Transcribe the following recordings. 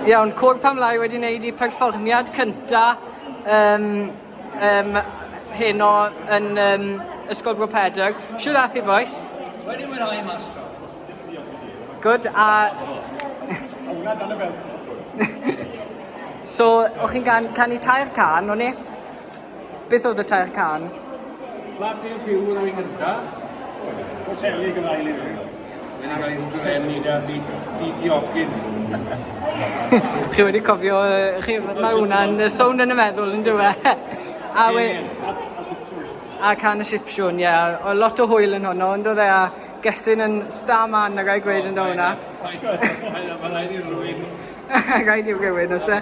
Iawn, Cwrw Pam Lai wedi wneud eu perfformiad cynta um, um, heno yn um, Ysgol Bro Pedr. Siw ddath i boes? Wedi mwynhau mas tro. Good, a... Hwna dan y fel. So, o'ch chi'n gan, canu tair can, o'n i? Beth oedd y tair cân? Platy y byw yn ei gynta. Rhoseli gyfaeli fy nghyfeillion. Yn yr ail sgren ni da fi DT Hopkins. Chi wedi cofio yy chi ma' hwnna'n yy sownd yn y meddwl yndyw e? A we... A can y sipsiwn ie o lot o hwyl yn honno on'd o'dd e a Gethin yn star man na gai gweud yndo hwnna? Ma' raid i rywun... Raid i rywun o's e?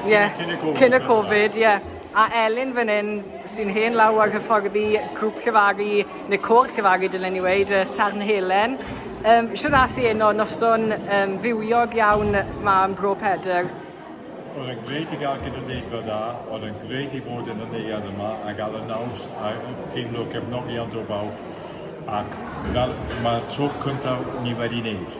Ie, yeah, cyn y Covid, ie. Yeah. A Elin fan hyn, sy'n hen law ar hyfforddi grŵp llefagu, neu côr llefagu dylen ni weid, uh, Sarn Helen. Um, Siwr nath i un o noson um, fywiog iawn ma yn Bro Pedr. Oedd yn greu i gael gynulleidfa da, oedd yn greu i fod yn y neuad yma a gael y naws a teimlo gefnogion o bawb. Ac fel, mae tro cyntaf ni wedi wneud.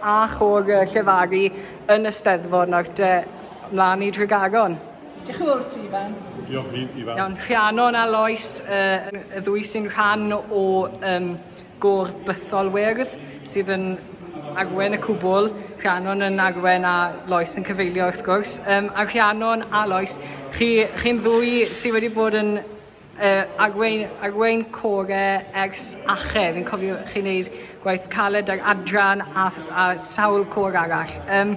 A chôr llefaru yn y Steddfod nawr te, mlaen i Nhregaron. Diolch yn fawr ti, Ifan. Diolch, Ifan. Iawn, Rhiannon a Lois, uh, y ddwy sy'n rhan o um, gôr bythol wyrdd sydd yn arwen y cwbl, Rhiannon yn arwen a Lois yn cyfeilio wrth gwrs. Um, a Rhiannon a Lois, chi, chi'n ddwy sydd wedi bod yn Yy Arwyn, Arwyn Core ers ache, fi'n cofio chi'n neud gwaith caled ar Adran a, a sawl cor arall. Um,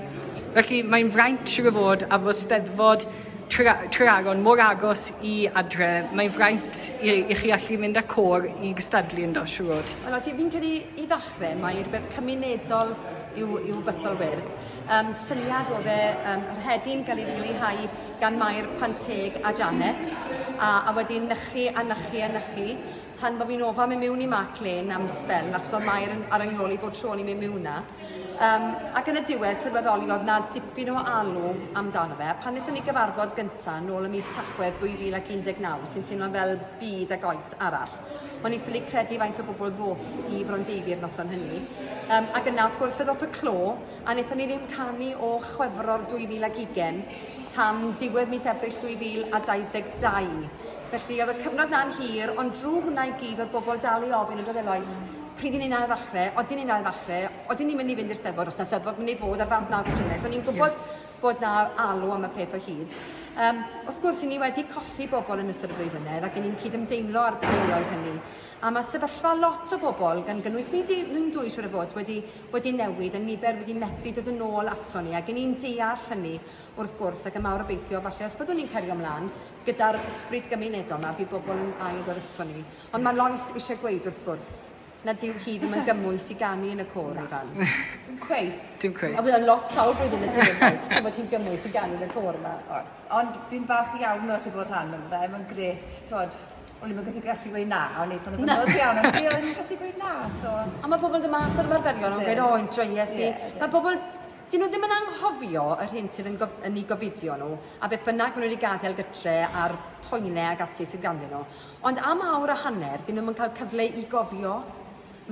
felly mae'n fraint siwr o fod a fod steddfod Trearon mor agos i adre, mae'n fraint i, i chi allu mynd â cor i gystadlu yn do, siwr fod. Wel, oes, fi'n credu i ddechrau mae rhywbeth cymunedol yw, yw Bytholwyrdd. Um, syniad oedd e, um, yr hedyn gael ei leihau gan Mair pan teg a Janet, a a wedyn nychu a nychu a nychu, tan bo fi'n ofa myn miwn i Mark Lane am sbel achos odd Mair yn ar 'y nghol i bob tro o'n i'n myn miwn 'na. Yym ac yn y diwedd sylweddoli oedd 'na dipyn o alw amdano fe, a pan nethon ni gyfarfod gynta nôl ym mis Tachwedd 2019, sy'n teimlo'n fel byd ag oes arall, o'n i ffili credu faint o bobl ddoth i Frondeifi yr noson hynny. Yym ac yna wrth gwrs fe ddoth y clo, A wnaethon ni ddim canu o Chwefror 2020 tan diwedd mis Ebrill 2022. Felly oedd y cyfnod na'n hir, ond drwy hwnna i gyd oedd bobl dal i ofyn yn doedd Elois, pryd i ni'n ail ddechrau, odyn ni'n ail ddechrau, odyn ni'n mynd i fynd i'r Steddfod, os na Steddfod mynd i fod ar Fab Naw Llynedd. So ni'n gwybod yeah. bod na alw am y peth o hyd. Um, wrth gwrs, i ni wedi colli bobl yn ystod y ddwy flynedd ac i ni'n cydymdeimlo â'r teuluoedd hynny. A mae sefyllfa lot o bobl, gan gynnwys ni ni'n dwy siwr o fod, wedi wedi newid, y nifer wedi methu dod yn ôl aton ni, ac yn i'n deall hynny, wrth gwrs, ac yn mawr obeithio, falle, os byddwn ni'n cario mlaen gyda'r ysbryd gymunedol yma, bydd bobl yn ail ddod aton ni. Ond mae Lois eisiau gweud, wrth gwrs, na dyw hi ddim yn gymwys i ganu yn y côr, Ifan. Dim cweit. Dim cweit. A bydd lot sawl blwyddyn y tîm, oes, pan bod ti'n gymwys i ganu yn y côr yma. Oes, ond fi'n falch iawn o allu bod rhan o'n fe, mae'n gret, twod, o'n i'm yn gallu gallu gweud na, o'n i pan o'n Na. anodd iawn, ond fi o'n i'n gallu gweud na, so... A mae pobl yn dod mas o'r ymarferion yn Ydyn. gweud, o, enjoyes i. Ie, ydyn. Mae pobl, dyn nhw ddim yn anghofio yr hyn sydd yn, gof, yn eu gofidio nhw, a beth bynnag maen nhw wedi gadael gytre a'r poenau ac ati sydd ganddyn nhw. Ond am awr a hanner, dyn nhw'm yn cael cyfle i gofio.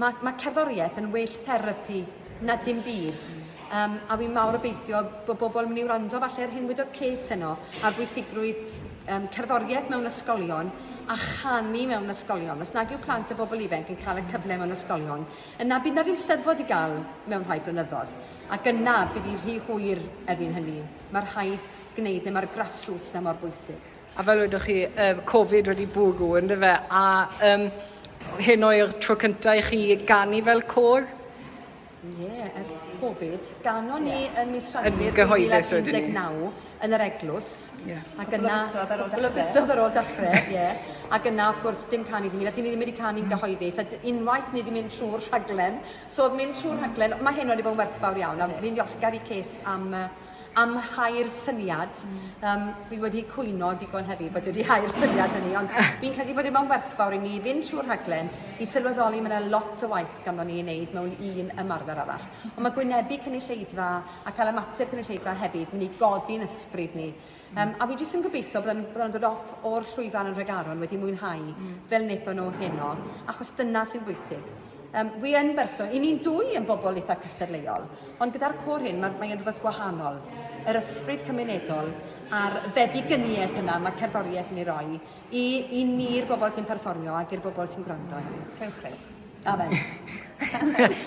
Mae, mae cerddoriaeth yn well therapi na dim byd. Um, a fi'n mawr obeithio bod bobl yn mynd i wrando falle ar hyn wedodd Ces yno, ar bwysigrwydd um, cerddoriaeth mewn ysgolion a chanu mewn ysgolion. Os nag yw plant a bobl ifanc yn cael y cyfle mewn ysgolion, yna bydd na ddim steddfod i gael mewn rhai blynyddoedd. Ac yna bydd hi rhy hwyr erbyn hynny. Mae rhaid gwneud e, mae'r grassroots na mor bwysig. A fel wedoch chi, uh, Covid wedi bwrw, yn fe? A um, hyn o'r tro cyntaf i chi ganu fel côr? Ie, yeah, ers Covid. Ganon ni yeah. yn mis Rhagfyr 2019 yn yr eglwys. Yeah. Ac yna, cwbl o fisoedd ar ôl dechrau, ie. Yeah. Ac yna, wrth gwrs, dim canu dim un, a dim wedi canu'n mm. gyhoeddus, a unwaith ni wedi mynd trwy'r rhaglen. So, oedd mynd trwy'r rhaglen, mae hyn wedi bod yn werthfawr iawn, a ni'n ddiolchgar i Ces am am hau'r syniad. Um, fi wedi cwyno digon heddi bod wedi hau'r syniad hynny, ond fi'n credu bod e mewn werthfawr i ni fynd trwy'r rhaglen i sylweddoli mae yna lot o waith ganddo ni i wneud mewn un ymarfer arall. Ond mae gwynebu cynulleidfa a cael ymateb cynulleidfa hefyd mynd i godi'n ysbryd ni. Yym, a fi jyst yn gobeithio bod yn, bod yn dod off o'r llwyfan yn Nhregaron wedi mwynhau mm. fel wnaethon nhw heno, achos dyna sy'n bwysig. Um, wi yn berson, i ni'n dwy yn bobl eitha cystadleuol, ond gyda'r cwr hyn mae'n mae rhywbeth gwahanol. Yr ysbryd cymunedol a'r feddyginiaeth yna mae cerddoriaeth yn ei roi i, i ni'r bobl sy'n perfformio ac i'r bobl sy'n gwrando. Cewch, cewch. Amen.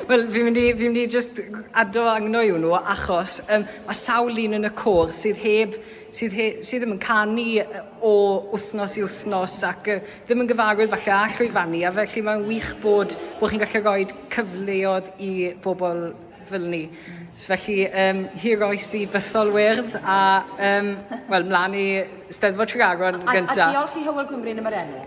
Wel, fi'n mynd i, fi mynd i just addo angno i hwnnw, achos um, mae sawl un yn y côr sydd heb, sydd, he, sydd ddim yn canu o wythnos i wythnos ac uh, ddim yn gyfarwydd falle a llwyfannu, a felly mae'n wych bod, bod chi'n gallu rhoi cyfleodd i bobl fel ni. So felly, um, hir oes i bythol wyrdd a, um, wel, mlaen i Steddfod Tregaron gyntaf. A, a diolch i Hywel Gwmryn am yr enw.